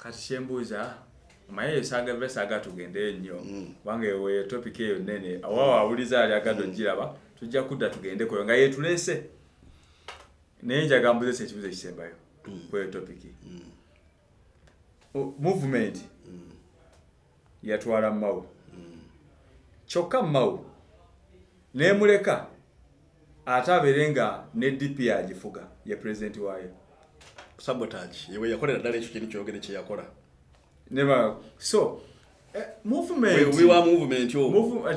kati kyembuuza omaye eyo saaga biba saaga tugendeyo nnyo mm. kubanga eyo weyo topika eyo nnene awawo awuliza ali agadde mm. ogiraba tujja kudda tugendekoyo nga yetuleese naye njaga mbuzesa ekibuzo ekisembayo mm. kweyo topiki movement yatwala mawu kyokka mawu nemuleka ate abeere nga ne dp agifuga ye pulezidenti waayo sabotage yewe yakolera ddala ekyo kintu kyogere kyeyakola neba so eh, movementwa movement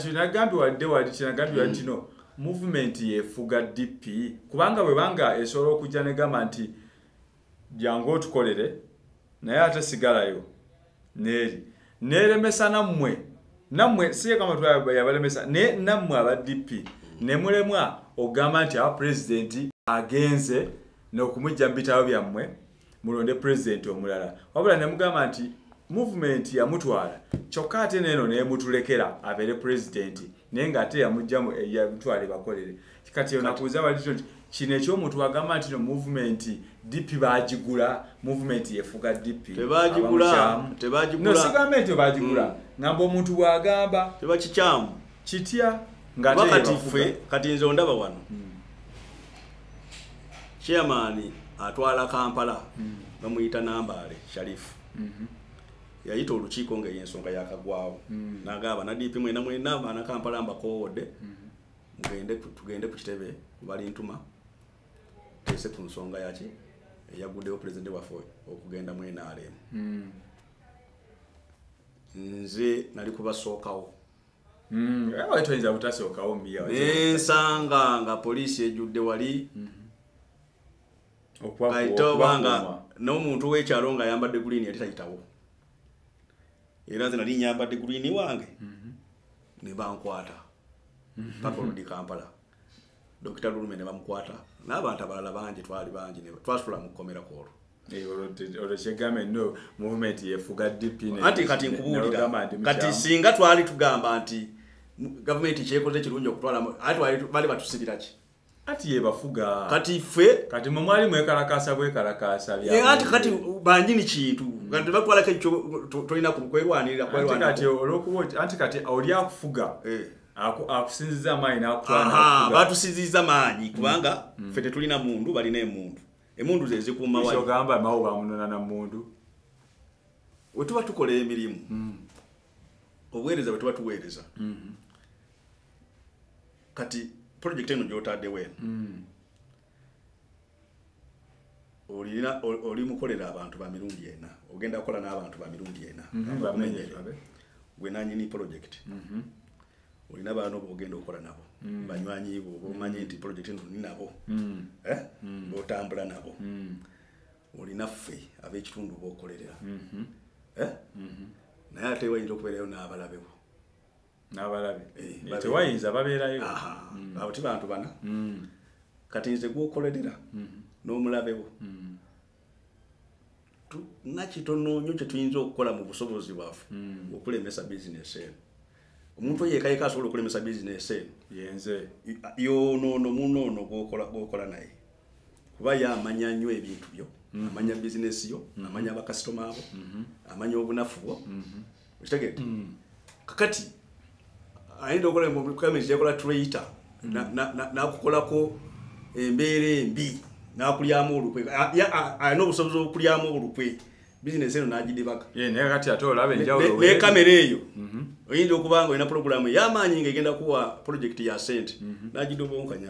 kinagambi wadde wali kinagambi wali kino mm. movement yefuga dp kubanga bwebanga esobola okujja negamba nti jangu otukolere naye ate sigalayo neeri neeremesa nammwe nammwe siyekamatwa yabalemesa naye nammwe aba dp nemulemwa okugamba nti awa pulezidenti agenze nokumujja mu bitabo byammwe mulonde pulezidenti omulala wabula nemugamba nti muvumenti yamutwala kyokka ate neeno nemutulekera abeere pulezidenti naye ngaate yamujjamu yamutwala ebakolere kati onakuuza wali kino kino ekyomuntu agamba nti no movement dp bagigula movement yefuga dp tebagigulatebagigunosigambe nti bagigula mm. ngamba omuntu bwagamba tebakikyamu kitya ngakati ffe kati nze ondaba wano mm. chairman atwala kampala mm. bamuyita nambaale sharifu mm-hmm. yayita olukiiko ngaeyensonga yakagwawo nagamba na dp mwena mwena banakampala mbakoowodde mm-hmm. mugende tugende ku kitebe bali ntuma tese ku nsonga yaki eyaguddewo pulezidenti waffe okugenda mu nrm hmm. nze nali kubasookawo hmm. toyinza butasookawo nensanga nga poliisi ejjudde wali hmm. kaita obanga n'omuntu w'ekyalo ng'ayambadde guliini yali tayitawo era nze nali nyambadde gulini wange mhm. ne bankwata mhm. paka olundi kampala dokita lulume ne bamukwata n'abantu abalala bangi twali bangi twasula mu kkomera kwolwo anti kati nkubuulira kati singa twali tugamba nti gavumenti kyekoze kirungi okutwala ate bali batusibiraki kati yebafuga kati ffe kati mwe mwali mwekalakaasa bwekalakaasa ati kati banjini kintu mm. kati bakwala kekyo tolina kwerwanirira kati olwokuba anti kati oli akufuga eh. akusinziza amaanyi batusinziza maanyi mm. kubanga mm. ffe tetulina mundu balina emundu emundu zezikuumawagamba mawo bamunona na mundu wetuba tukola emirimu obuweereza bwe tuba tuweereza mm-hmm. kati pulojekiti eno gy'otaddewo eno mm. olina oli mukolera abantu ba mirundi ena ogenda kukola n'abantu ba mirundi ena mm-hmm. gwe nanyini pulojekiti mm-hmm. olina baana oba ogenda okukola nabo mm. banywanyi bo oba omanyi nti pulojekiti eno oli nabo mm. eh? botambula nabo olina ffe ab'ekitundu bokolerera mhm. eh? mhm. naye ate wayinza okubeerayo n'abalabewo n'abalabe eh, eh, tewayinza babeerayo mm. abo ti bantu bana mm. kati nze gwokolerera mhm. n'omulabewo mm. nga kitono nyo kyetuyinza okukola mu busobozi bwaffe okulemesa bizinesi eno omuntu oyo yeka yeka asobola okulemesa bizinesi eno yenze yonoono munoono gwokola naye kuba ye amanya nnyo ebintu byo mhm. amanya bizinesi yo mhm. amanya abakasitoma abo mhm. amanya obunafu bwo okitegete kakati ayinza okolayakola traita nakukolako embeera embi nakulyamu olukwe alina obusobozi okulyamu olukwe bizinesi eno n'agidibaka eh, naye kati ate olaba enjawulo ne kamera eyo mhm. oyinza okuba nga olina pulogulaamu ey'amaanyi nga egenda kuwa pulojekiti ya sente mhm. n'agidobonkanya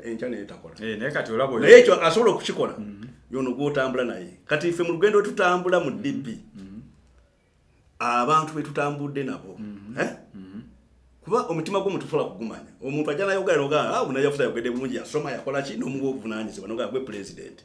enkya naye takola eh, naye ekyo asobola okukikola mhm. yono gw'otambula naye kati ffe mu lugendo wetutambula mu db abantu betutambudde nabo eh? kuba omutima gwo mutusobola kugumanya omuntu ajja nayogera nogaa ah, unayafuza ayogedde bulungi yasoma yakola ki n'omuwa obuvunanyizibwa nogaa gwe pulezidenti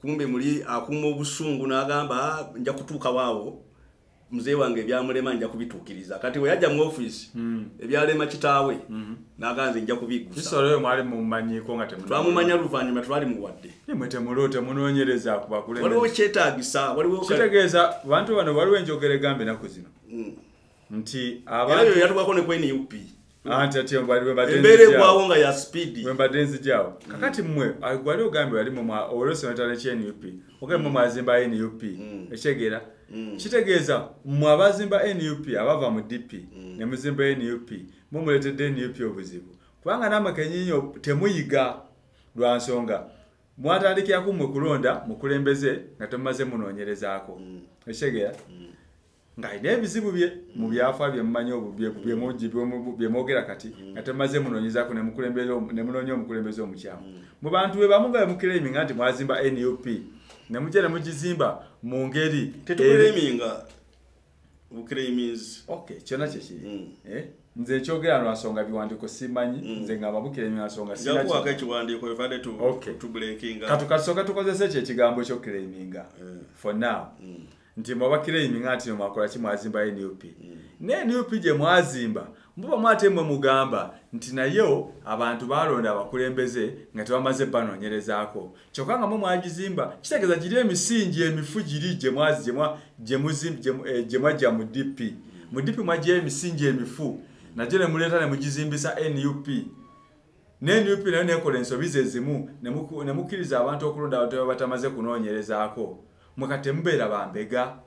kumbe muli akuuma obusungu n'agamba ah, nja kutuukawo awo mzee wange ebyamulema nja kubituukiriza kati bwe yajja mu ofiisi hmm. ebyalema kitaawe hmm. n'agamba nze nja kubigusaamumanya luvannyuma twali muwadde waliwo kyetaagisa waliwo kitegeeza bantu bano waliwo enjogera egamba enaku zino hmm. nti abantu yatugako ne kweni UP anti ati mbali bwe badenzi mbere kwawo nga ya speed bwe badenzi jawo mm. kakati mwe agwali ogambe yali mu ma orosi na tale cheni UP ogambe mwe mm. mazimba eni UP mm. echegera kitegeeza mwe abazimba nup abava mu dp mm. ne muzimba nup mumuletedde nup obuzibu kubanga namwe kenyinyo temuyiga lwa nsonga mwatandikiraku mwe kulonda mukulembeze nga temumaze munoonyerezaako mm. ekitegeera mm. ng'alina ebizibu bye mu byafa bye mumanyi bye mwogera kati mm. nga temaze munoonyezaako ne munoonya omukulembeze omukyamu mm. mu bantu be bamu nga bemukiremi nga nti mwazimba nup ne mujja ne mugizimba mu ngeri tetukureminga bukireminzi ok kyona kyekiri mm. eh? nze ekyogera no asonga biwandiiko simanyi mm. nze ngamba bukiremingasonga katukasoka tukozesa ekyo ekigambo ekyokireminga eh. for now mm. nti mwabakira eminga nti mwakola ki mwazimba nup mm. naye nup gye mwazimba mbuba mwate mwe mugamba nti nayo abantu balonda abakulembeze nga tebamaze banoonyerezaako kyokka nga mwe mwagizimba kitegeeza giri emisingi emifu giri gye eh, mwajja mu dp mu dp mwajjayo emisingi emifu nagyo ne muleeta ne mugizimbisa nup ne nup nayo nekola ensobi zezimu nemukkiriza abantu okulonda abantu babatamaze kunoonyerezaako mweka temubeera bambega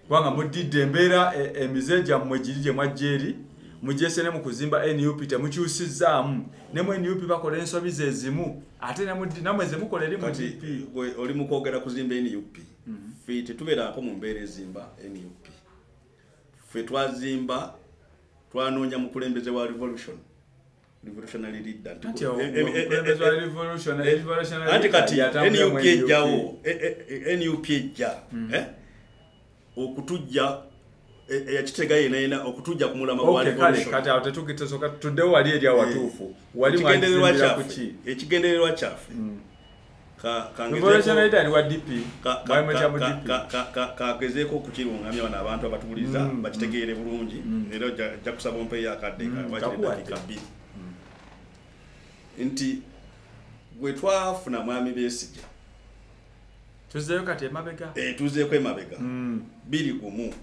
kubanga muddidde embeera e, emize gyammwe giri gye mwajja eri mugyese ne mu kuzimba nup temukyusizaamu ne mu nup bakola ensobi zezimu ate namwe zemukola eri mu nup oli mukwogera kuzimba nup mhm. fe tetubeeraako mu mbeera ezimba nup fe twazimba twanoonya mukulembeze wa revolution revolutionary leader anti kati nup ejjawo nup ejja okutujja eyakitega yena yena okutujja kumulama gwalkatitudewo wali eri awatuufu walikigendererwa kyaffe kagezeeko okukirungamya bano abantu abatuwuliza mm, mm. bakitegeere bulungi mm. era ojja kusaba ompeyo akadde kawakiredakika bbiri nti gwe twafuna mwami besija tuzeeyo kati emabega eh, tuzeeko emabega biri gumu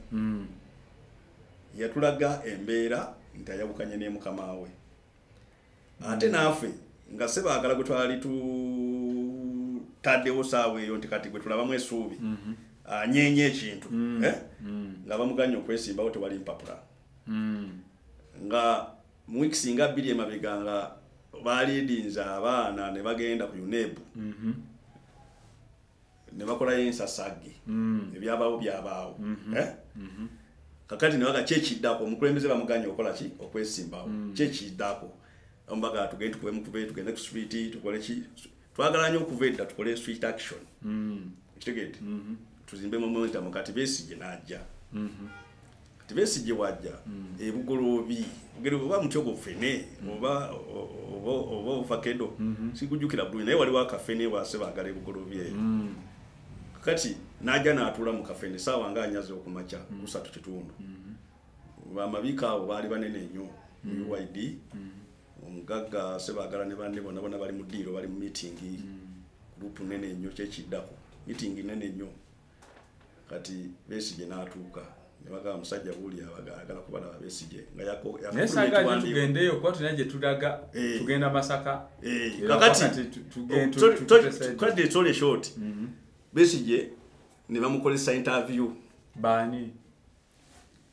yatulaga embeera nti ayawukanye nemukama we ate naafe nga se baagala gwe twali tutaddewo saawa eyo nti kati gwe tulabamu esuubi mhm. anyeenya ah, ekintu mm. eh? mm. nga bamuganya okwesimbawo tewali mpapula mm. nga muwiiki singa bbiri emabega nga baliidinza abaana ne bagenda ku unebu mm-hmm. ne bakolayo ensasage mm. ebyabaawo byabaawo mm-hmm. Eh? Mm-hmm. kakati nebaga kyekiddako omukulembeze bamuganye okola ki okwesimbawo mm. kyekiddako ombaga tugende tukubemu kube tugende ku street tukole ki twagala nyo okuva edda tukole street action mm. kitegede mm-hmm. tuzimbe momentum kati besigye najja kati besigye bwajja hmm. ebugoloobi ogere oba mutyo gufene hmm. oba oba ovakedo hmm. sikujukira bulungi naye waliwo akafene wase bagala ebugoloobi eyo kati naja natula mu kafene saawa nga anyaze okumakya kusatu kitundu bamabika abo baali banene nnyo mu uid omugagga sebagala ne banne bona bona bali mu diiro bali mu mitingi gurupu nene nnyo kyekiddako mitingi nene nnyo kati besigye n'atuuka nebagamba musajja buli abagala kubalaba besigye ngayakogendeyo kuba tulina gye tulaga eh. tugenda masaka eh. kakatitwadde oh, etole short mhm. besigye ne bamukozesa interview baani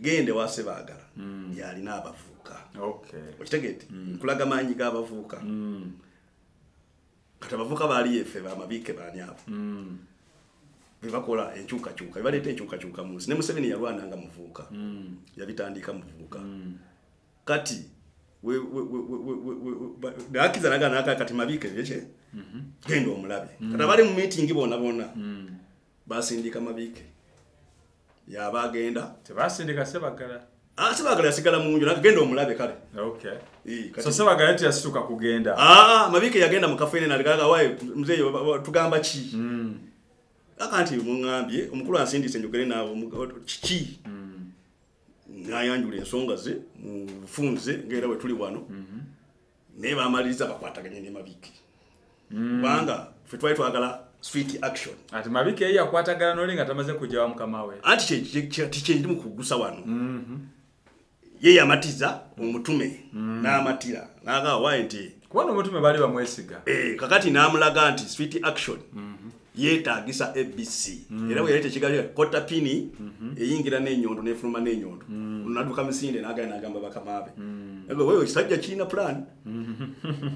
genda ewa sebaagala mm. yalina abavubuka okitegete mm. nkulaga maanyi g'abavubuka mm. kati abavubuka baali efe bamabiike baani abo bebakola enkyukakyuka bebaleeta enkyukakyuka mu nsi ne museveni yalwana nga muvubuka yabitandiika muvubuka kati gakiza naganaka kati mabiike byekye mhm. genda omulabe kati abali mu miitingi bona bona basindika mabiike yaba agenda tebasindika sebagala ah, sebagala yasigala mu nju nagenda omulabe kale okay. so sebagala nti yasituka kugenda ah, ah, mabike yagenda mu kafeene naligaga waye mzeeyo tugamba ki mm. aka nti muŋambye omukulu ansindise njogere naawe kiki mm. nayanjula ensonga ze mufunze ngaera wetuli wano mm -hmm. naye bamaliriza bakwataganye ne mabiki hmm. kubanga mm. fe twali twagala sweet action ati mabiki eyi yakwatagana noli nga tamaze kujawa mukama we anti kyendi mukugusa wano mm -hmm. ye yamatiza omutume mm. n'amatira nagawa nti kubona omutume bali bamwesiga e, kakati n'amulaga nti sweet action mm -hmm. yetagisa abc mm. era weyali tekigalira kota pini mm -hmm. eyingira nenyondo nefuluma nenyondo mm. naduka misinde nagaya nagamba bakamaabe mm. wewe kisajja kirina plan mm.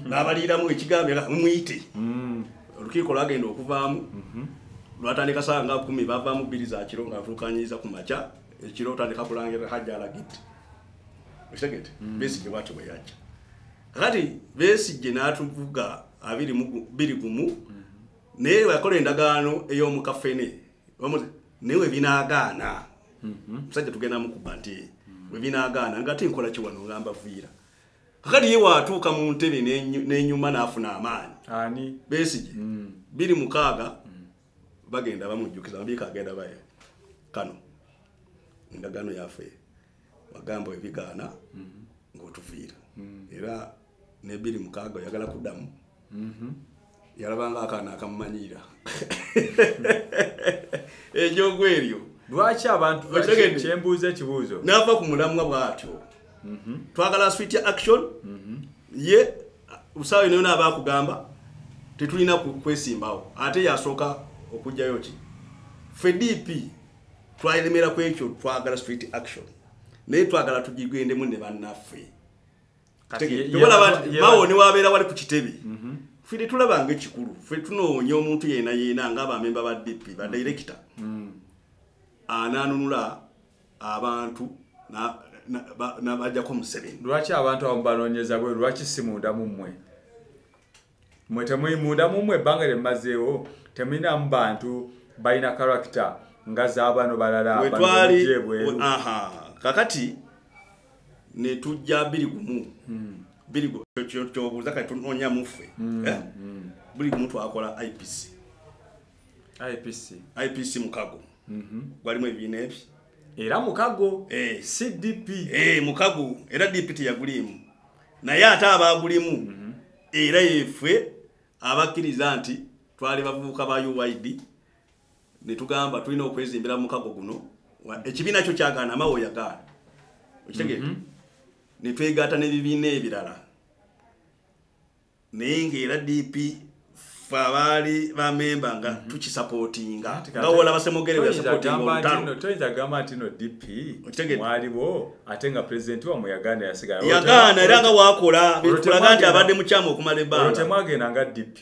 nabaliiramu ekigambo era mumuyite mm. olukiiko lwagenda okuvaamu mm -hmm. lwatandika saa nga kumi bavaamu bbiri za kiro nga avulukanyiza ku makya ekiro otandika kulangira hajja alagiti okitegete mm. besigye bwatyo bweyajja kati besigye natuvuga abiri gumu mm. naye wakola endagaano ey'omu kafene naye webinaagaana mhm. musajja tugenda mukuba nti webinaagaana nga ate nkola kiwano ngamba viira kakati ye waatuuka mu ntebe n'enyuma n'afuna amaanyi besigye mm. biri mukaaga mm. bagenda bamujjukiza mabiika agenda baye kano endagaano yafe wagamba ebigaana mm-hmm. ng'otuviira mm. era nebiri mukaaga oyagala kuddamu mm-hmm. yalabanga akaana akamumanyiira enjogo eryo lwaki abantu kyembuuza ekibuuzo naava ku mulamwa bwatyo mm-hmm. twagala swit action ye usaawa yonayona aba akugamba tetulina kwesimbawo ate yasooka okugjayo ki fe dp twalemera ku ekyo twagala street action naye twagala tugigendemu ne bannaffe bawo newabeera wali ku kitebe mhm. fe tetulaba nga ekikulu fe tunoonya omuntu yena yena nga abamemba ba dp badirekita mhm. mm. ananunula abantu nabajjako museveni lwaki abantu abamu banonyeza bwe lwaki simunda mu mmwe mwe temuyi munda mumwe ebbanga lye mumazeewo temulinamu bantu balina karakita nga zabano balala wetwali kakati netujja biri gumu hmm. biri kyobuuza kati tunonya muffe hmm, eh? hmm. buli gumu twakola ipc ipc ipc mukago mhm. gwalimu ebibiina ebyo era mukago eh. cdp eh, mukago era dpt yaguliimu naye ate abaagulimu mhm. era yefwe abakkiriza nti twali bavubuka ba uyd ne tugamba tulina okwezimbira mu mukago guno ekibiina kyo kyagaana amawe oyagaana okitegeera mhm. ne twegaata n'ebibiina ebirala naye ng'era dp ffe abaali bamemba nga mhm. tukisapootinga nga wolaba semogeretoyinza gamba nti no dp mwaliwo ate nga pulezidenti wamwe yagaana yasigala yagaana era nga wakola bitulaga nti abadde mukyamu okumala ebbanga temwagenda nga dp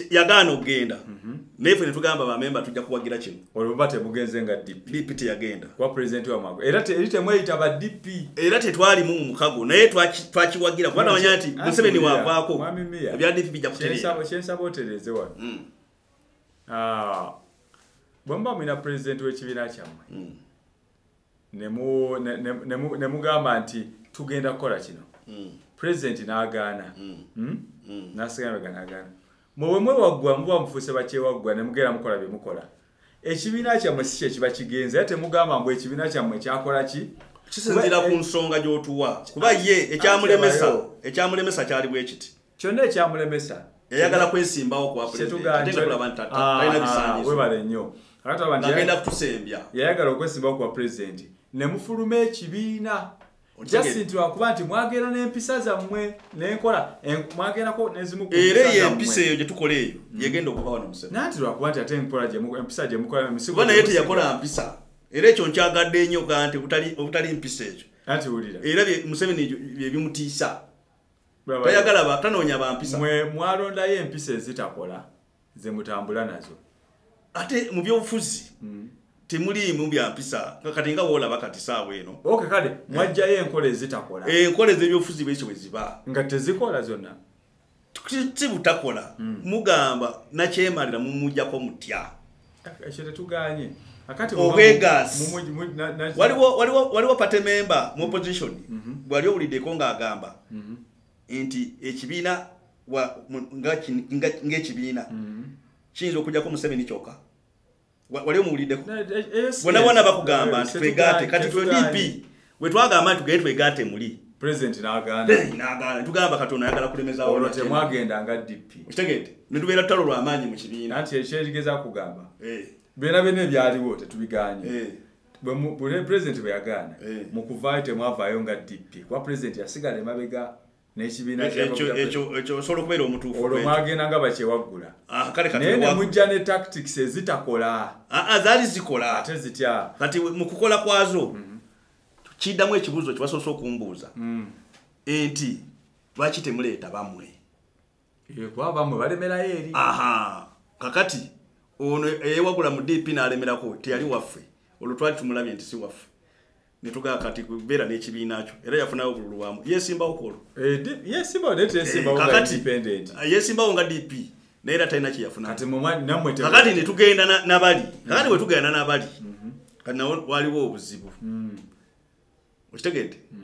yagaana okugenda mhm. naye fe netugamba bamemba tujja kuwagira kino olwo buba tebugenze nga dp teyagenda kuba pulezidenti wamwago era eri temweyita ba dp era tetwalimu mu mukago naye twakiwagira kuba namanya nti museveni wavaako ebya dp bijja kuterekyensaba otereeze wano hmm. ah, bwemuba mulina pulezidenti w'ekibiina kyammwe hmm. ne mugamba nti tugenda kukola kino hmm. pulezidenti n'agaana hmm. Hmm? nasigaga nagaana mwewe mwewaggwa muba mufuuse bakyewaggwa ne mugera mukola bye mukola ekibiina kyammwe si kye kiba kigenze era temugamba mbu ekibiina kyammwe kyakola ki kisinzira ku eh, nsonga gy'otuwa kuba ye ekyamulemesa ekyamulemesa kyali bwekiti kyonna ekyamulemesa yayagala kwesimbawo kwawebale nnyo agenda kutusembya yayagala okwesimbawo kuwa pulezidenti ne mufuluma ekibiina just nti wakuba nti mwagenda n'empisa zammwe nenkola mwagendako nezimu era eyo empisa eyo gyetukola eyo mm. yegenda okuva wano musebe nanti lwakuba nti ate enkola empisa gyemukola misiba naye teyakola mpisa era ekyo nkyagadde nnyo ga nti obutali mpisa ekyo era museveni byebimutiisa tayagala tanoonya bampisa mwe mwalondayo empisa ezitakola ze mutambula nazo ate mu byobufuzi mm. temuliimu byampisa kati nga woolaba kati saawa eno oke kale eh. mwajjayo enkola ezitakola eh, enkola ez'ebyobufuzi bwekyo bwe ziba nga tezikola zonna si butakola mm. mugamba nakyemalira mumujjako mutya ekyo tetuganye waliwo pate memba mu opposition bwali mhm. owuliddeko ng'agamba mhm. nti ekibiina ng'ekibiina mhm. kiyinza okujjako museveni kyoka wali omuwuliddeko bona bona bakugamba nti twegate kati twe dp Bwe twagamba nti tugende twegaate muli president n'agaana n'agaana tugamba katonda ayagala kulemeza olwo temwagenda nga DP okitegedde ne tubeera tutalo lwa maanyi mu kibiina nti ekyerigeza kugamba eh. byonna byonna ebyaliwo tetubiganye eh. bwe president bwe yagaana eh. mu kuvaayo temwavaayo nga DP kuba president yasigala emabega osobola okubeera omutuufuolwo mwagenda nga bakyewaggula ah, naye nemujja ne tactics ezitakola ah, ah, zaali zikola ate zitya kati mu kukola kwazo mhm. kiddamu ekibuuzo kyebasoose okumbuuza mm. enti lwaki temuleeta bamwe kuba bamwe balemerayo eri aha kakati ono eyewagula mu dp nalemerako teyali waffe olwo twali tumulabye nti si waffe netugaa kati kubeera n'ekibiina kyo era yafunayo obululu bwamu yesimbawo kwolwo eh, yesimbawoakati eh, yesimbawo nga dp naye era talina kyeyafunakakati netugenda nabali mm. kakati wetugenda nabali mm-hmm. kati nawo waliwo obuzibu mm. okitegedde mm.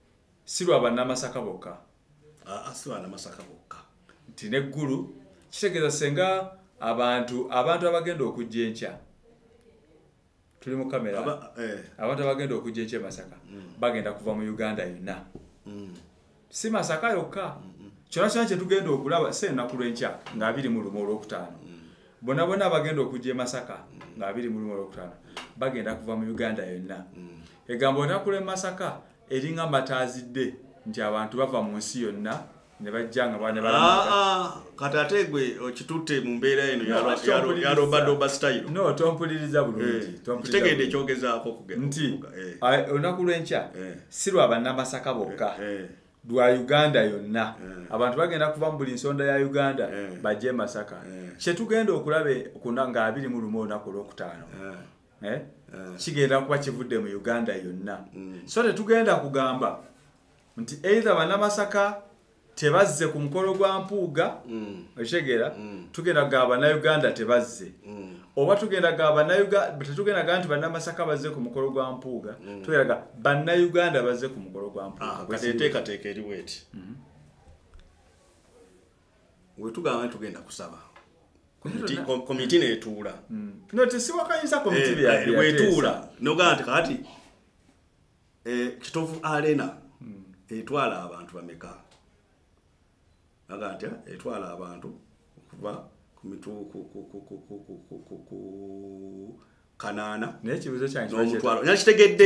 si lwa bannamasaka bokka ah, ah, si bannamasaka bokka nti neggulu kitegeeza senga abantu abantu abagenda okujja enkya tuli mu kamera eh. abantu abagenda okujja enkya emasaka mm. bagenda kuva mu uganda yonna mm. si masaka yokka kyona kyona kyetugenda okulaba si enaku lwenkya nga abiri mu lumu olwokutaano mm. bona bona abagenda okujja e masaka nga abiri mu lumu olwokutaano bagenda kuva mu uganda yonna egambo otakula e masaka eringa mataazidde nti abantu bava mu nsi yonna nebajja nga bane bala ah, ah, kati ate gwe okitutte mu mbeera eno yarobadoba style no tompuliriza bulungi eh, tompuliriza ekyogezaako kugenda nti eh. olunaku lw'enkya eh. si lwa bannamasaka bokka lwa uganda yonna eh. abantu bagenda kuva mu buli nsonda ya uganda eh. bajje masaka eh. kyetugenda okulaba kuna nga abiri mu lumu olunaku olwokutaano kigenda kuba kivudde mu uganda yonna mm. so tetugenda kugamba nti eitha banamasaka tebazze ku mukolo gwa mpuuga mm. okitegeera mm. tugenda kugamba banauganda tebazze oba tugendaga bannayuganda tetugendaga nti bannamasaka bazze ku mukolo gwa mpuuga mm. tugendaga bannayuganda bazze ku mukolo gwa mpuugateekateeka ah, eriwo eti mm-hmm. wetugamba nti tugenda kusaba komiti netuula mm. notesiwakanyisa komiti eh, eh, wetuula nogamba nti kati eh, kitovu arena mm. etwala abantu bameka aga nti etwala abantu okuva ku mitu kanaana nomutwalo nakitegedde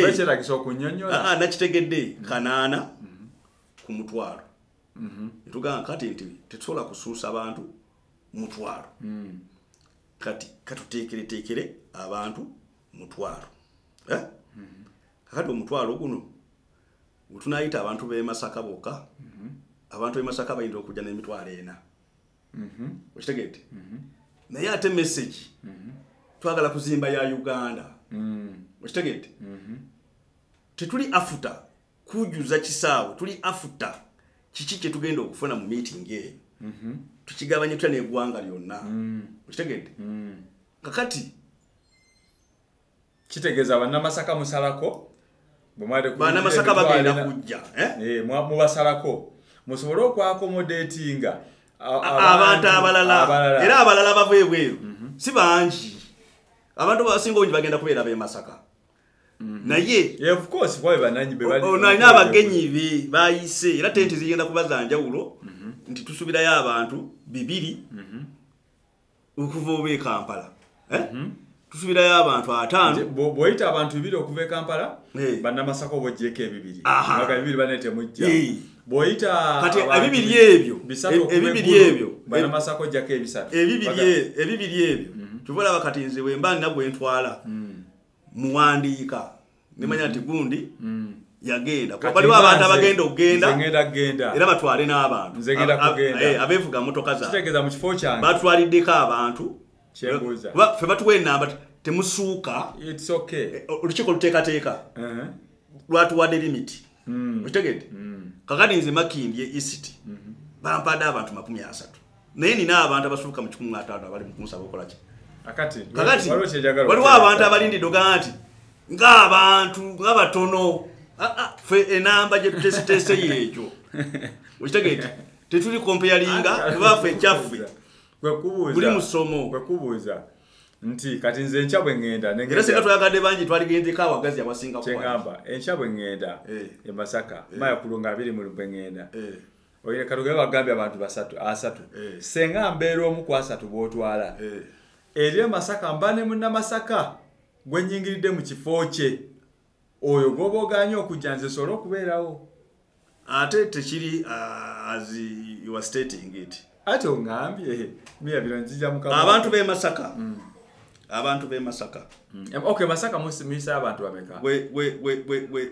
ah, nakitegedde mm-hmm. kanaana mm-hmm. ku mutwalo mm-hmm. netugaa kati nti tetusobola kusuusa bantu mutwalo mm. kati katuteekereteekere abantu mutwalo eh? kakati omutwalo guno Tunayita abantu b'e Masaka bokka. Mhm. Abantu b'e Masaka bayinza okujja n'emitwalo ena. Mhm. Okitegedde? Mhm. Naye ate message. Mhm. Twagala kuzimba ya Uganda. Mhm. Okitegedde? Mhm. Tetuli afuta kujuza kisaawe. Tuli afuta kiki kye tugenda okufuna mu meeting eyo. Mhm. Tukigabanye tutya n'eggwanga lyonna. Mhm. Okitegedde? Mhm. Kakati kitegeeza bannamasaka musalako bwemwalibanamasaka bagenda kujja eh? eh, mubasalako musobole okwakomodetinga abantu abalala era abalala bava ebweru mhm. si bangi abantu basinga obungi bagenda kubeera bemasaka mhm. naye olina abagenyi be bayise era tenti zigenda kuba zanjawulo mhm. nti tusubirayo abantu bibiri okuva oba e kampala eh? mhm. tusubirayo abantu ataano bwoyita abantu bibiri okuva e kampala eh. banamasaka oba ojeko ebibiri aga bibiri bane temujja eh. bwoyita kati ebibiri ebyo ebibiri ebyo banamasaka ojjako ebisatu ebibiri ebyo mhm. kyova olaba kati nze wemba nina gwentwala mm. muwandiika nemanya nti gundi mm. yagenda kuba baliwo abantu abagenda okugenda era batwale n'abantu eh, abeevuga motoka zabatwaliddeko abantu fe batuwa enamba temusuuka eh, olukiiko luteekateeka uh-huh. lwatuwadde limiti hmm. okitegedde hmm. kakati nze makimbye isiti mm-hmm. bampadde abantu makumi asatu naye nina abantu abasuuka mu kikumi ataano abali mukunsaba okolaki kakati waliwo abantu abalindidde ogaa nti ngaabantu nga batono ah, ah, fe enamba gyetutesitese yeekyo okitegeeti tetuli kompeyalinga kubaffe ekyaffe buli musomo kwekubuuza nti kati nze enkya bwe ŋŋenda era singa twayagadde bangi twaligendeko awagazi abasinga kyegamba enkya bwe ŋŋenda eh. e masaka eh. maya kulunga abiri muli bwe ŋŋenda eh. oyo katugere bagambye abantu basatu asatu eh. senga mbeera omu ku asatu bwotwala eh. eri emasaka mba ne munamasaka gwe nyingiridde mu kifo kye oyo gwoba oganye okujja nze sobola okubeerawo ate tekiri uh, as you are stating it ati ongambye eh, miya bino njija mu abantu be masaka mm. abantu be masaka mm. okay masaka musimisa abantu bameka we we we we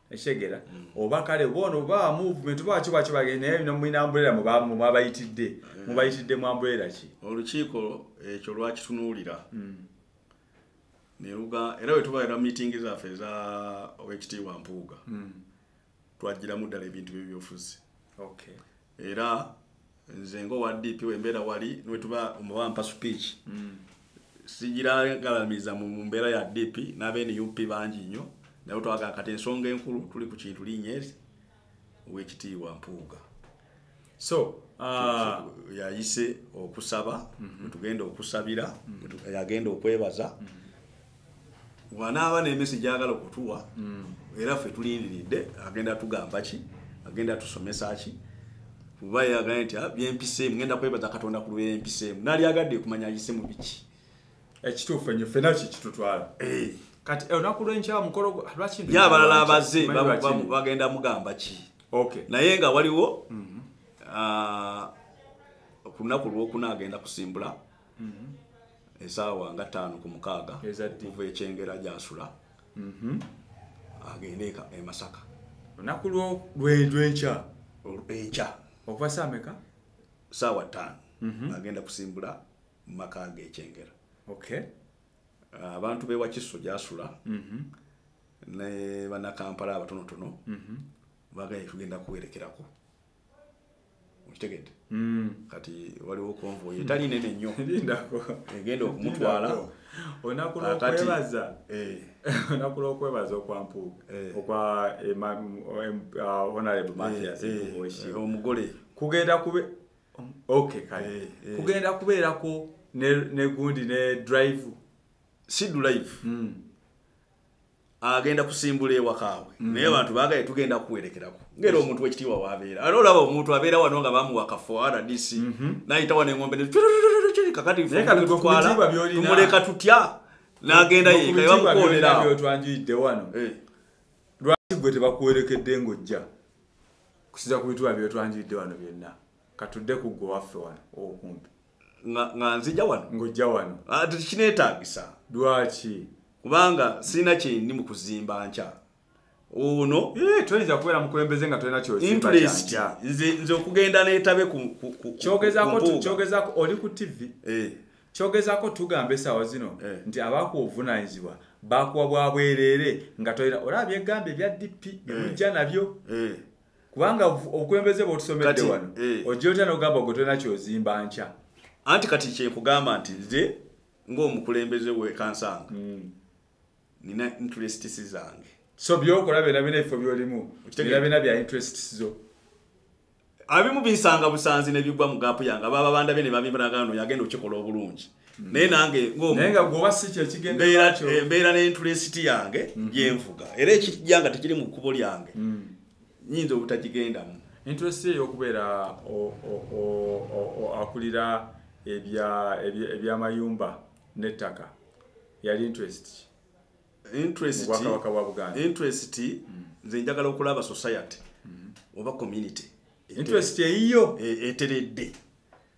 ekigera mm. oba kale bono ba movement ba kiba kiba naye bino mwina umbrella mu ba mwabayitidde mm. mubayitidde mu umbrella ki olukiiko ekyo lwakitunuulira mm. neruga era bwe tubaera meeting zaffe eza owekitiibwa mpuuga twajjiramu ddala ebintu byebyofuzi era nze nga owa dp wembeera wali newetuba omubampa speech mm. sigiragalamiza mu mbeera ya dp n'abenup bangi nnyo naye twagala kati ensonga enkulu tuli ku kintu linyezi owekitiibwa mpuuga so ah, yayise okusaba mm-hmm. wetugenda okusabira mm-hmm. yagenda okwebaza mm-hmm. wanaaba n'emesi gyagala okutuwa mm. era ffe tulindiridde agenda tugamba ki agenda tusomesa ki kuba yagambye nti ah, byempiseemu ngenda kwebaza katonda ku lubeera empiseemu nali agadde kumanya ayise mu biki ekituufu enyo ffena kikitutwala eh. kati eh, olunaku lwenkya mukolo lwaki ye abalala abaze bagenda mugamba ki naye nga waliwo mhm. ah, ku lunaku lwokuna agenda kusimbula mm-hmm. esaawa nga taano ku mukaaga okuva ekyengera gyasula mm-hmm. agende emasaka olunaku lwenkya enkya okuva saameka saawa taano mm-hmm. agenda kusimbula mu maka ge ekyengera abantu bewakiso gyasula ne banakampala abatonotono bagala kugenda kuwerekerako okitegedde mm. kati waliwo konvoyi etali nene nnyo egenda okumutwala olunaku lwokwebaza eh. olunaku lwokwebaza okwampuuga eh. okwa honorable eh, matias omugole kugenda kube ok kale kugenda kubeerako negundi ne drive si drive mm. agenda kusimbula ewakaawe mm. naye abantu bagaye tugenda kuwerekerako ngera omuntu wekitiibwa wabeera ate olaba omuntu abeera wano nga bamuwa kafo rdc mhm. nayita wano engombe kakatitumuleka tutya nagenda yekabamukooneraotwanjuyidde wano eh. lwaki gwe tebakuwerekedde ngaojja kusiza ku bituba byotwanjuyidde wano byonna katudde ku gwe waffe wano okumpi nga nzija wano ngojja wano ah, kinetagisa lwaki kubanga sirina kyendi mu kuzimba nkya ono eh, toyinza kubeera mukulembeze nga tolina kyointerest nze okugenda netabe kyogezako oli ku tv eh. kyogezako tugamba esawa zino eh. nti abakuwa obuvunanyizibwa bakuwa bwabwerere nga tolina olaba byegamba ebya dp byemujja nabyo kubanga obukulembeze bwotusomedde wano eh. ojja otya nogamba ogwe tolina kyozimba nkya anti kati kyekugamba nti nze ngaomukulembeze wekansanga hmm. nina interests zange so byokola byona bina ebifo byolimu bina bina bya interests zo abimu binsanga busanzi nebigwa mu gaapu yange ababa banda bene babimbiragano yagenda okikola obulungi hmm. naye nange ngombeera eh, n'inturesiti yange hmm. gyenvuga era ekijja nga tekiri mu kkubo lyange nyinza obutagigendamu interest ye yokubeera akulira ebyamayumba nettaka yali interest interest interest mm. nze njagala okulaba society mm-hmm. oba community interest eyiyo e, eteredde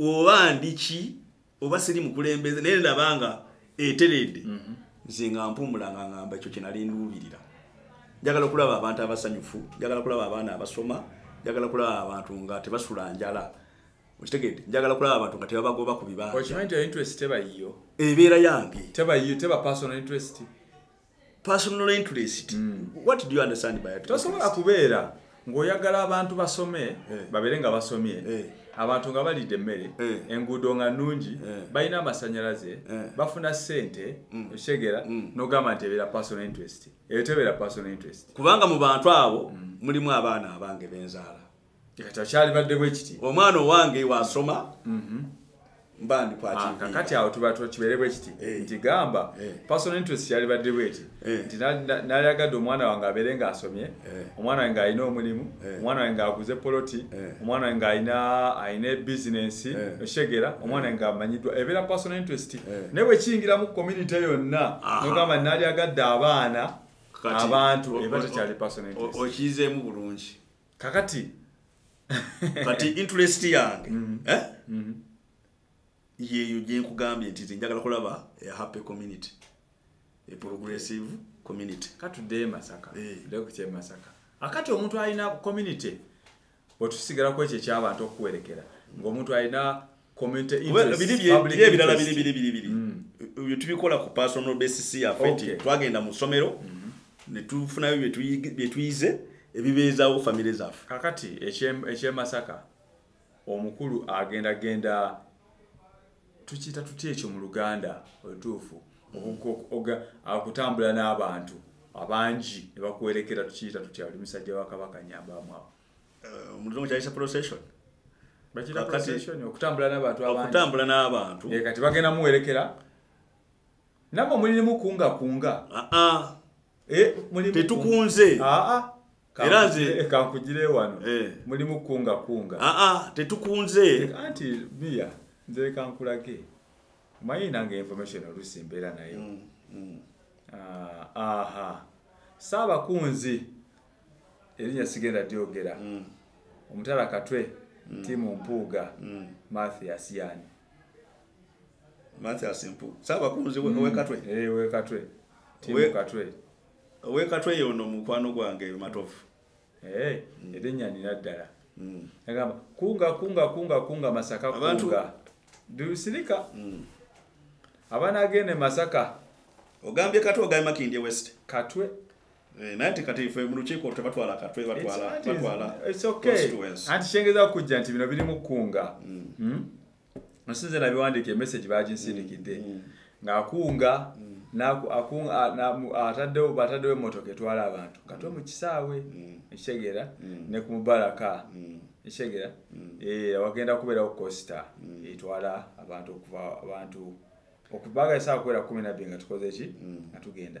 oba ndiki oba siri mukulembeze naye ndaba nga eteredde mhm. nze nga mpumula nga ngamba ekyo kyenali nduubirira njagala okulaba abantu abasanyufu njagala kulaba abaana abasoma njagala kulaba abantu nga tebasula njala okitegedde njagala kulaba abantu nga tebabagoba ku bibanjaebeera yange personal interest mm. what do you understand by tosobola kubeera ng'oyagala abantu basome eh. babeere nga basomye eh. abantu nga balidde emmere eh. enguudo nga nnungi balina amasanyalaze bafuna ssente mm. okitegera mm. nogamba nti ebeera personal interest eyo tebeera personal interest kubanga mu bantu abo mm. mulimu abaana abange benzaala kyalibadde bwekiti omwana owange wasoma mhm. mbandikwatikati ah, awo tuba tukibeere bwekiti eh. nti gamba eh. person interest kyalibadde bweti eh. nti nalyagadde omwana wange abeere nga asomye omwana wange ngaalina omulimu omwana wange ngaaguze poloti omwana wange ngaalina alina ebizinensi okitegera omwana wange ngaamanyiddwa ebeera person interest naye bwekiyingiramu community yonna nogamba nalyagadde abaana abantu eba tekyali person interest okiyizeemu bulungi kakati kati interest yange mm. eh? mm. yeeyo gyenkugambye nti njagala kulaba a happy community a progressive community katuddeyo masaka eh. lekukye masaka akati omuntu alina community otusigala kwekyo ekyabantu okuwerekera ngaomuntu alina ebirala biri biri biri biri mm. tubikola ku personal basis yaffe nti twagenda mu ssomero mm-hmm. ne tufunayo bye tuyize ebibeezawo famire zaffe kakati ekyemasaka omukulu agenda genda tukiyita tutya ekyo mu luganda olutuufu okutambula n'abantu abangi ne bakuwerekera tukiyita tutya oli musajja wa kabaka nyambaamu awo eh, omulungu kyayisa procession okutambula n'abantu okutambula n'abantu eh, kati bagenda muwerekera nabwe mulirimu kunga kunga ah, ah. Eh, tetukunze ah, era nze kankugire wano mulimu kunga kunga tetukunze anti biya nze kankulage manyi nange information olusi mbeera nayo mm, mm. aha saabakunzi erinya sigenda dyogera mm. omutala katwe mm. timu mpuuga mm. mathias yani mathias mpu sabakunzi mm. wekatwe hey, eh, wekatwe timu We, katwe wekatwe yono mukwano gwange matofu hey, eh, mm. erinya nina ddala mm. agamba kunga kunga kunga kunga masaka Abantu, kunga dusirika mm. abana agende masaka ogambye katwe ogambye makindye west katwe Eh, naye nti kati fe mu lukiiko tebatwala katwe batwalaanti kyengeza okujja nti bino birimu kkunga mm. hmm? osinze nabiwandiika emessage baginsindikidde mm. mm. ng'akunga ataddewo bataddewo emmotoka etwala abantu katwe mu kisaawe ekitegeera ne ku mubaraka ekitegeera eh, wagenda kubeerawo kosita etwala abantu okuva abantu okubaga esaa kubeera kumi nabbi nga tukoze ki nga tugenda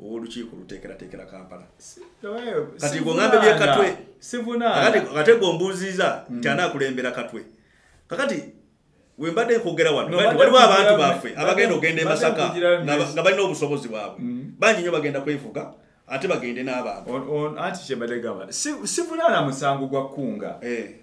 owolukiiko oluteekerateekera kampala kati gweŋambe byekatwe ate gwombuuziiza hmm. nti anaakulembera katwe kakati wembadde nkwogera wano waliwo abantu baffe abagenda okugenda emasaka nga balina obusobozi bwabwe hmm. bangi nyo bagenda kwefuga ate bagende n'abantu anti kyebadde gamba sivunaana musango gwa kkunga eh.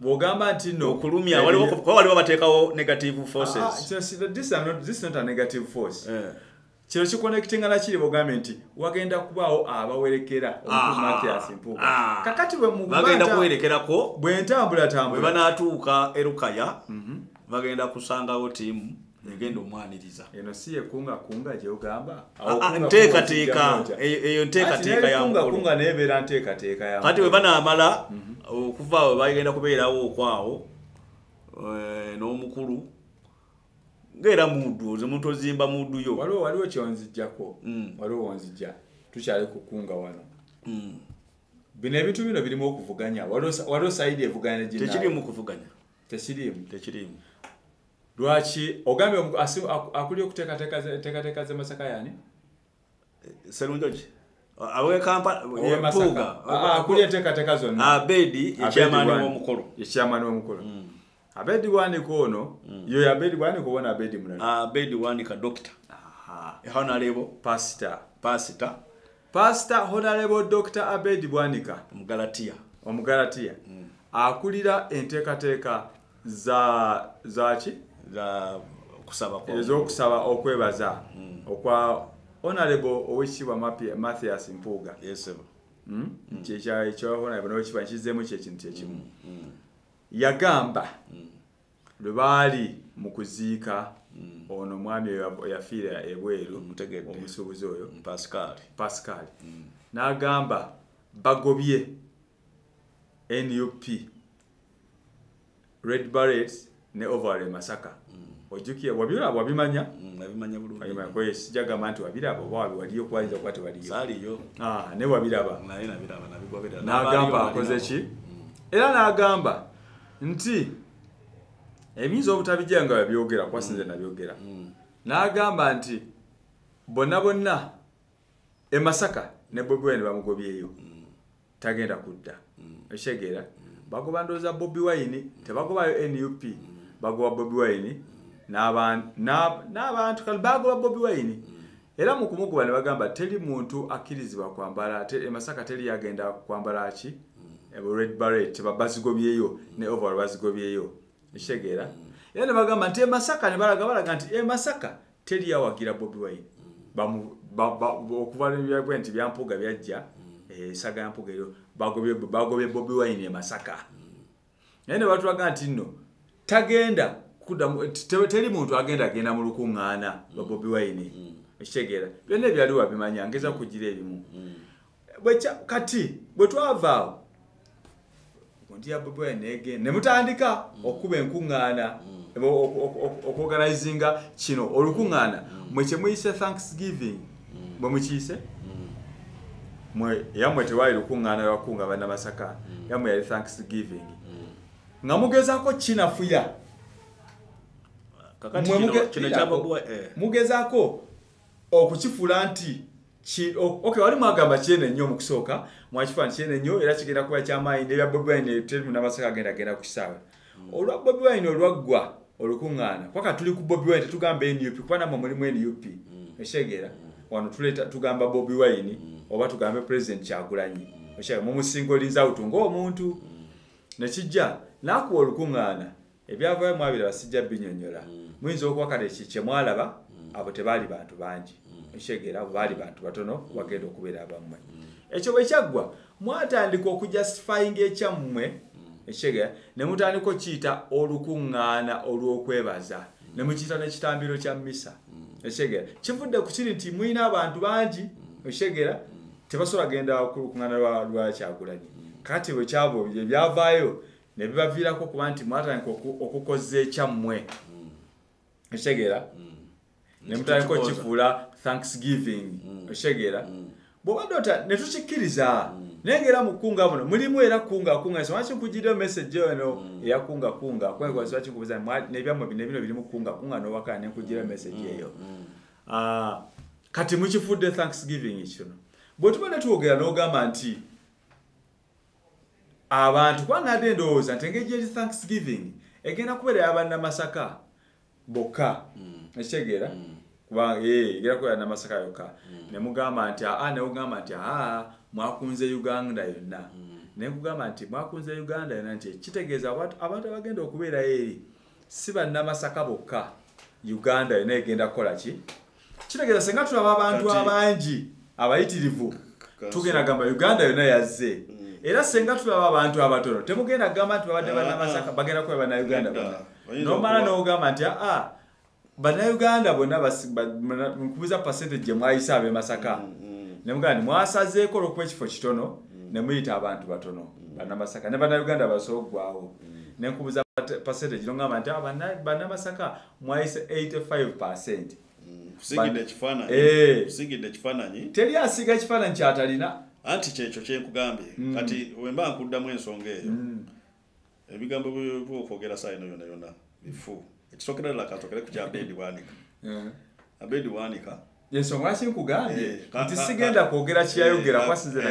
bwogamba nti no okulumya waliwo kuba waliwo bateekawo negative forces ah, ah, this is not this is not a negative force eh. kino kikonekitinga nakiri bogambye nti wagenda kubaawo abawerekera omutumathias mpu ah. kakati bwemugenda kuwerekerako bwentambulatambula bwebanatuuka erukaya mhm. bagenda kusangawo tiimu egenda omwaniriza eno si yekunga kunga gyogamba ah, ah, nteekateeka eyo nteekateeka yakunga naye beera nteekateeka ya kati webanamala mhm. okuva we bagenda kubeerawo okwawo eh, n'omukulu ngaera muddu oze muntu ozimba muddu yo waliwo waliwo kyonzijjako mm. waliwo wonzijja tukyali kukunga wano mm. bino ebintu bino birimu okuvuganya waliwo sayidi evuganya tekirimu kuvuganya tekirimu tekirimu lwaki ogambye akuli okuteekateeka ze masaka yani serunjoki awekampaakuli enteekateeka zonnaabedi ekyamani womukulu ekyamani womukulu mm. abedi wanika ono mm. yoyo abedi wanika obona abedi mulala abedi wanika dokita ehonalebo pasita pasita Pastor Honorable Dr. Abed Bwanika Omugalatiya Omugalatiya mm. akulira enteekateeka za zaki za kusaba kwa ezokusaba okwebaza mm. okwa Honorable Owekitibwa Mathias Mpuuga yes sir mm? mm. kye kya kya Honorable Owekitibwa kizemu kye kintu kye kimu mm. mm. yagamba mm. lwe baali mu kuziika mm. ono omwami eyafiira ebweru omusuubuzi oyo pascal mm. n'agamba bagobye nup red barrets ne ovary masaka mm. ojukira wabiraba wabimanya nabimanya bulungi wabimanya kwa hiyo sijagamba nti wabiraba oba wabi waliyo kwa hiyo kwati waliyo sali yo ah ne wabiraba na ina biraba na bigwa biraba na gamba akoze ki mm. era na gamba nti ebiyinza obutabijja nga babyogera kuba sinze nabyogera mm. n'agamba nti bonna bonna e masaka ne bobi wine bamugobyeyo mm. tagenda kudda mm. ekitegeera bagoba ndowooza bobi wine tebagobayo nup bagoba bobi wine n'abantu kale bagoba bobi wine era mu kumukuba ne bagamba teri muntu akkirizibwa kwambala te, e masaka teri yagenda kwambala ki mm. e, red barret bazigobyeyo mm. ne oval bazigobyeyo ekitegeera mm. era ne bagamba nti emasaka ne balaga balaga nti emasaka teri yawagira bobi wine okuva nebyagwe nti byampuga byajja esaga eh, yampuga eryo bagobye bobi wine emasaka naye ne batulaga nti nno tagenda teri muntu agenda agenda mu lukuŋŋaana lwa bobi wayini ekitegeera mm. byonna ebyali wabimanya ngeza mm. kugira ebimu mm. kati bwe twavaawo kunti ya bobi wayini nege ne mutandika okukuba enkuŋŋaana okuoganizinga kino olukuŋŋaana mwe kyemuyise thanksgiving mm. bwe mukiise mm. mwe yamwe tewaali lukuŋŋaana lwakunga bana masaka mm. yamwe yali thanksgiving nga mugezaako kinafuya eh. mugezaako okukifuula nti ok wali mwagamba kyene nnyo mu kusooka mwakifaani kyene nnyo era kigenda kuba kyamaanyi nebya bobi wine teri munamasaka agenda genda ku kisaawe olwa bobi wine olwaggwa olukuŋŋaana kwaka tuli ku bobi wine tetugamba nup kuba namwe mulimu nup mm. ekitegeera mm. wano tuleta tugamba bobi wine mm. oba tugambe president kyagulanyi ekitegeera mumusinga olinza awutu ngaomuntu nekijja nakuwa olukuŋŋaana ebyavayo mwabira basijja binyonyola muyinza okuba kale kyemwalaba abo tebaali bantu bangi ekitegeera abo baali bantu batono wagenda okubeera abammwe ekyo bwekyaggwa mwatandika okujustifyinga ekyammwe ekigera ne mutandika okiyita olukuŋŋaana olw'okwebaza ne mukiyita n'ekitambiro kya misa ekigera kivudde ku kiri nti mulina abantu bangi ekigera tebasobola genda ku lukuŋŋaana lwa kyagulanyi kati bwe kyabo ebyavaayo ne bibaviirako okuba nti mwatandika okukozza ekyammwe ekitegeera mm. ne mutandika okifuula thanksgiving mm. ekitegeera mm. bwobadde ota ne tukikkiriza naye ngaera mu kukunga buno mulimu era kunga kunga siwaki nkugidde message eno eya kunga kunga kwekola siwaki nkubuza nebyammwe bino bino biri mu kukunga kunga nowakana ne nkugidde message eyo ah, kati mukifudde thanksgiving kino bwe tuba ne twogera n'ogamba nti abantu kuba nade ndowooza nti engeri gyeri thanksgiving egenda kubeera yabanamasaka bokka mm. ekitegeera mm. kuba eh, egenda kubeera namasaka yokka mm. ne mugamba nti aa ne ugamba nti aa mwakunze uganda yonna ne kugamba nti mwakunze uganda yonna nti kitegeeza abantu abagenda okubeerayo eri si bannamasaka bokka uganda yona egenda kukola ki kitegeeza senga tulaba abantu abangi abayitirivu tugenda gamba uganda yona yazze mm. era senga tulaba abantu abatono temugenda gamba nti babadde ah, bannamasaka ah. bagenda kukola bannauganda bona nomala nogamba nti aa ah, bannayuganda bonna nkubuza percentage gye mwayise ab'e masaka mm, mm. ne mugamba nti mwasazeeko olwokuba ekifo kitono mm. ne muyita abantu batono bannamasaka ne bannayuganda basobola okugwawo ne nkubuza percentage no ngamba nti ah, bannamasaka mwayise 85 percent kusigidde ekifaananyi eh. kusigidde ekifaananyi teri asiga ekifaananyi kyatalina anti kyekyo kyenkugambye mm. kati wemba nkuddamu ensonga eyo mm. ebigambo byokwogera saa ino yona yona bifu ekisookera ddala katokere ku kya bendi bwanika eh. abendi bwanika ensonga lwaki nkugambye eh, nti sigenda kwogera kiyayogera eh, kwasinzira